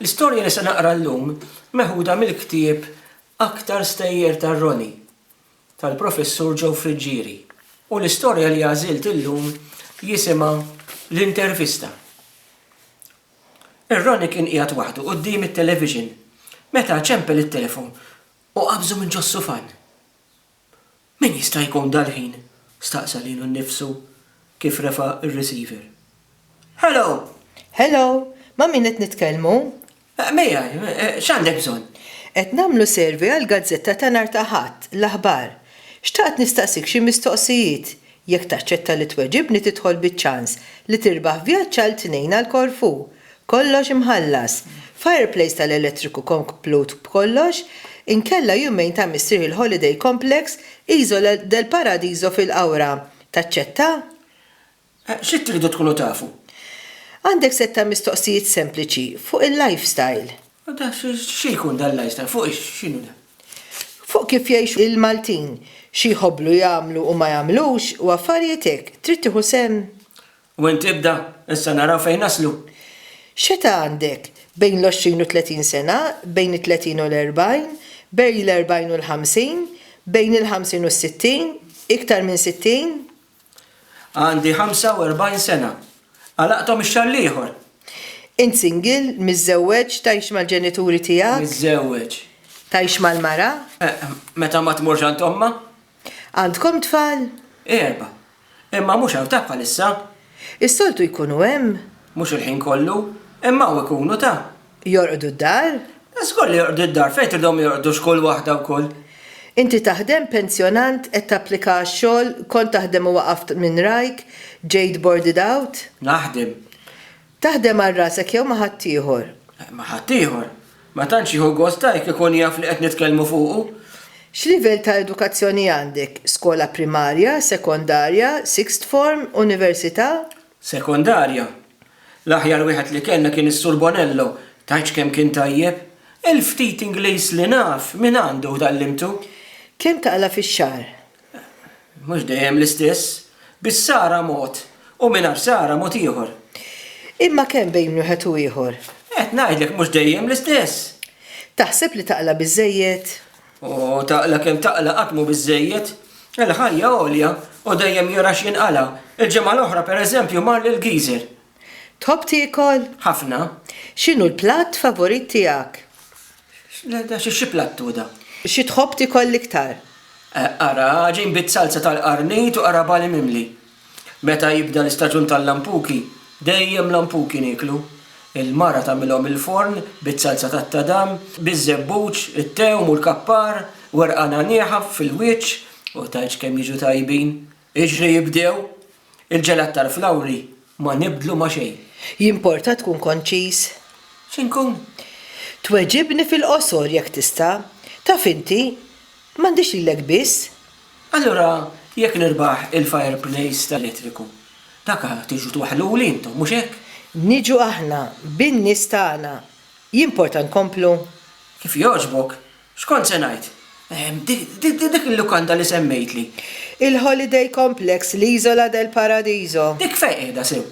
L-istorja li se naqra llum meħuda mill-ktieb Aktar Stejjer Tar-Roni tal-Professur Joe Friggieri u l-istorja li għażilt illum jisimha L-Intervista. Ir-Roni kien qiegħed waħdu quddiem it-television meta ċempel it-telefon u qabżu minn ġos-sufan. Min jista' jkun dal-ħin? staqsa lilu nnifsu kif refa' r-receiver. Hello! Hello! Ma' min qed nitkellmu? Miegħi. X'għandek bżonn? Qed nagħmlu survey għall-gazzetta ta' nhar ta' Ħadd, l-aħbar. Xtaqt nistaqsik xi mistoqsijiet. Jekk taċċetta li tweġibni tidħol biċ-ċans li tirbaħ vjaġġ għal tnejn għal Korfù. Kollox imħallas. Fireplace tal-elettriku komplut b'kollox, inkella jumejn ta' Missier Hill Holiday Complex, Isola del Paradiso fil-Qawra. Taċċetta? Xi tridu tkunu tafu? Għandek sett ta' mistoqsijiet sempliċi fuq il-lifestyle. U dan xi jkun dan l-ajstar? Fuq x'inhu dan? Fuq kif jgħixu il-Maltin, xi jħobblu jagħmlu u ma jagħmlux u affarijiet hekk. Trid tieħu sehem? U int ibda, issa naraw fejn naslu. X'età għandek? Bejn l-għoxrin u tletin sena, bejn it-tletin u l-erbgħin, bejn l-erbgħin u l-ħamsin, bejn il-ħamsin u s-sittin, iktar minn sittin? Għandi 45 sena. Għalaqthom ix-xahar l-ieħor. Int single, miżżewweġ, tgħix mal-ġenituri tiegħek? Miżżewweġ. Tgħix mal-mara? Eh, meta ma tmurx għand ommha. Għandkom tfal? Erba'. Imma mhux hawn ta' bħalissa. Is-soltu jkunu hemm? Mhux il-ħin kollu, imma hawn ikunu ta'. Jorqdu d-dar? Żgur li jorqdu d-dar, fejn tridhom jorqdu x'kull waħda wkoll. Inti taħdem, pensjonant, qed tapplika għax-xogħol, kont taħdem u waqaft minn rajk, ġejt boarded out? Naħdem. Taħdem għal rasek jew ma' ħaddieħor? Ma' ħaddieħor. Ma tantx jieħu gost ta' jekk ikun jaf li qed nitkellmu fuqu. X'livell ta' edukazzjoni għandek, skola primarja, sekondarja, sixth form, università? Sekondarja. L-aħjar wieħed li kellna kien is-Sur Bonello, tgħidx kemm kien tajjeb! Il-ftit Ingliż li naf, minn għandu tgħallimtu. Kemm taqla' fix-xahar? Mhux dejjem l-istess. Bis-sara mod, u mingħajr sara mod ieħor. Imma kemm bejn wieħed u ieħor? Qed ngħidlek mhux dejjem l-istess. Taħseb li taqla' biżżejjed? U taqla kemm taqla qatt mhu biżżejjed. Il-ħajja għolja u dejjem jura x'jinqala'. Il-ġimgħa l-oħra, per eżempju, mar lil Geezer. Tħobb tiekol? Ħafna. X'inhu l-platt favorit tiegħek? Xi platt hu da? Xi tħobb tiekol l-iktar? Qara għaġin bit-salza tal-qarnit u qara bali mimli. Meta jibda l-istaġun tal-lampuki, dejjem lampuki nieklu. Il-mara tagħmilhom il-forn biz-zalza tat-tadam, biz-żebbuġ, it-tewm u l-kappar, werqa nagħnieħa fil-wiċċ u tgħidx kemm jiġu tajbin. Iġri jibdew! Il-ġelat tal-flawri ma nibdlu ma' xejn. Jimporta tkun konċiż? Xi nkun? Tweġibni fil-qosor jekk tista'. Taf inti, m'għandix lilek biss. Allura jekk nirbaħ il-fire place ta' elettriku, dak tiġu twaħħluli intom, mhux hekk? Niġu aħna bin-nies tagħna, jimporta nkomplu? Kif jogħġbok? X'kont se ngħid? Dik il-lukanda li semmejtli. Il-Holiday Complex, l-Isola del Paradiso. Dik fejn qiegħda sew?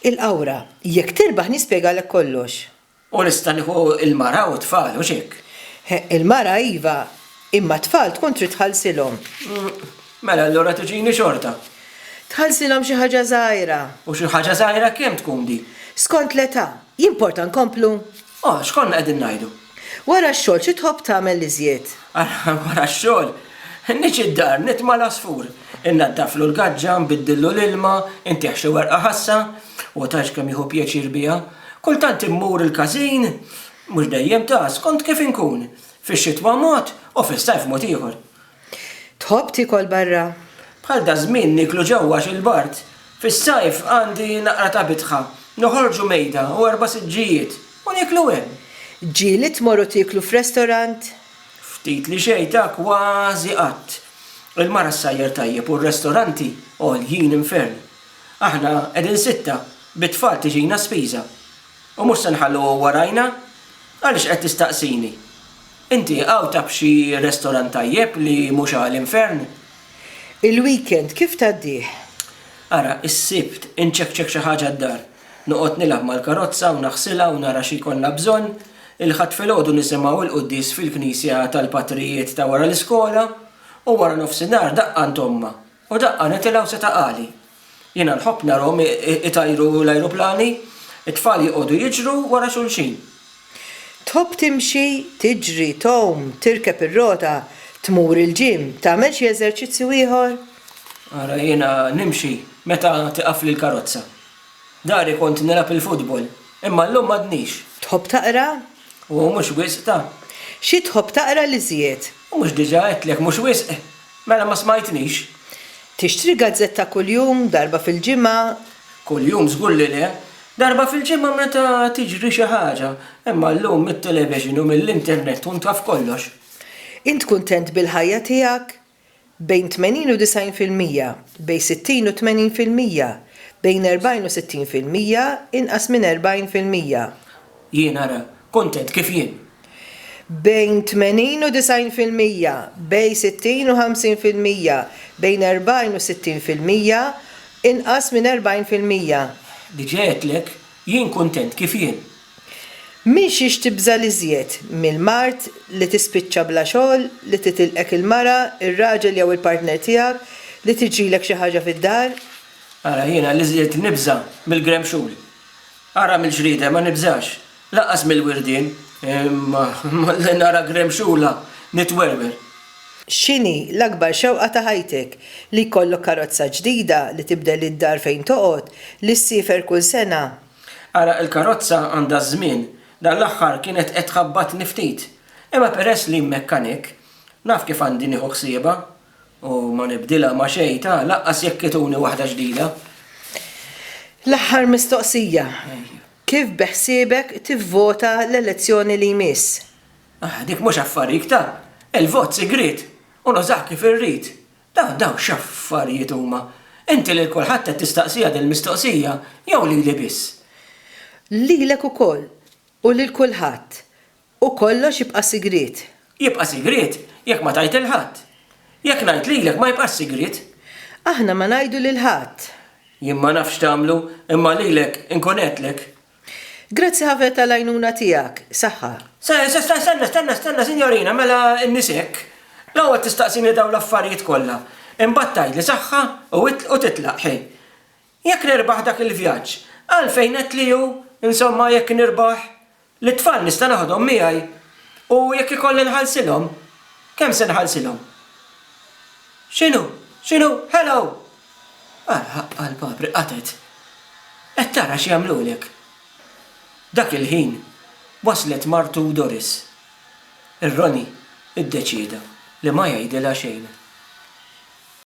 Il-Qawra. Jekk tirbaħ nispjegalek kollox. U nista' nieħu l-mara u t-tfal, hux hekk? Il-mara iva, imma t-tfal tkun trid tħallsilhom. Mela allura tiġini xorta? Tħallsilhom xi ħaġa żgħira. U xi ħaġa żgħira kemm tkun din? Skont l-età. Jimporta nkomplu? O, x'konna qegħdin ngħidu? Wara x-xogħol xi tħobb tagħmel l-iżjed? Wara x-xogħol? Niġi d-dar, nitma' l-għasfur. Innaddaflu l-gaġġa, nbiddillu l-ilma, intih xi werqa ħassa. Hu tantx kemm jieħu pjaċir biha. Kultant immur il-każin, mhux dejjem ta', skont kif inkun. Fix-xitwa mod u fis-sajf mod ieħor. Tħobb tiekol barra? Bħal daż-żmien nieklu ġewwa għax il-bard. Fis-sajf għandi naqra ta' bitħa. Noħorġu mejda u erba' siġġijiet u nieklu hemm. Ġieli tmorru tieklu f'restorant? Ftit li xejn ta' kważi qatt. Il-mara ssajjar tajjeb u r-restoranti għoljin infern. Aħna qegħdin sitta, bit-tfal tiġina spiża. U mhux se nħalluha warajna? Għaliex qed tistaqsini? Inti hawn taf xi restorant tajjeb li mhux għal infern? Il-weekend kif tgħaddih? Ara, is-Sibt, inċekċek xi ħaġa d-dar. Noqgħod nilgħab mal-karozza u naħsilha u nara xi jkollna bżonn. Il-Ħadd filgħodu nisimgħu l-quddies fil-knisja tal-patrijiet ta' wara l-iskola. U wara nofsinhar daqqa għand ommha. U daqqa nitilgħu seta' għali. Jiena nħobb narahom itajru l-ajruplani, it-tfal joqogħdu jiġru wara xulxin. Tħobb timxi, tiġri, tgħum, tirkeb ir-rota, tmur il-gym, tagħmel xi eżerċizzju ieħor? Ara jiena nimxi meta tieqafli l-karozza. Dari kont nilgħab il-futbol, imma llum m'għadnix. Tħobb taqra? U mhux wisq, ta. Xi tħobb taqra l-iżjed? U mhux diġà għedtlek mhux wisq? Mela ma smajtnix? Tixtri gazzetta kuljum, darba fil-ġimgħa? Kuljum żgur li le. Darba fil-ġimgħa meta tiġri xi ħaġa. Imma llum mit-television u mill-internet tkun taf kollox. Int kuntent bil-ħajja tiegħek? Bejn 80 u 90 fil-mija, bejn 60 u 80 fil-mija, bejn 40 u 60 fil-mija, inqas minn 40 fil-mija. Jien ara kuntent kif jien. Bejn 80 u 90 fil-mija, bej 60 u 50 fil-mija, bejn 40 u 60 fil-mija, inqas minn 40 fil-mija. Diġa għedtlek jien kuntent kif jien. M'intix tibża' l-iżjed mill-mard li tispiċċa bla xogħol, li titilqek il-mara, ir-raġel jew il-partner tiegħek, li tiġrilek xi ħaġa fid-dar? Ara jiena l-iżjed nibża' mill-gremxul. Ara mill-ġrieden ma nibżax, lanqas mill-wirdien li nara gremxula nitwerwer. X'inhi l-akbar xewqa ta' ħajtek? Li jkollok karozza ġdida, li tibdel id-dar fejn toqgħod, li ssiefer kull sena? Ara il-karozza għandha ż-żmien, dan l-aħħar kienet qed tħabbatni ftit. Imma peress li mmekkanik, naf kif għandi nieħu ħsiebha. U ma nibdilha ma' xejn, ta, lanqas jekk ituni waħda ġdida. L-aħħar mistoqsija, kif beħsiebek tivvota l-elezzjoni li jmiss? Ah, dik mhux affarik, ta, il-vot sigriet u nużah kif irrid. Ta, dawn x'affarijiet huma? Inti lil kulħadd qed tistaqsiha dil-mistoqsija jew lili biss? Lilek ukoll u lil kulħadd. U kollox jibqa' sigriet. Jibqa' sigriet jekk ma tgħid lil ħadd. Jekk ngħid lilek ma jibqax sigriet. Aħna ma ngħidu lil ħadd. Jien ma nafx tagħmlu, imma lilek inkun għedtlek. Grazzi ħafna tal-għajnuna tiegħek. Saħħa. Stenna, stenna, stenna, sinjorina, mela n-nies hekk. L-ewwel tistaqsini dawn l-affarijiet kollha. Imbagħad tgħidli saħħa u titlaq, ħi. Jekk nirbaħ dak il-vjaġġ, għalfejn għedtli hu, insomma, jekk nirbaħ? Lit-tfal nista' naħodhom miegħi u jekk ikolli nħallsilhom, kemm se nħallsilhom? X'inhu? X'inhu? Hello! Ara, ħaqqha l-papri qatgħet. Qed tara x'jagħmlulek? Dak il-ħin waslet martu Doris. Ir-Ronnie iddeċieda li ma jgħidilha xejn.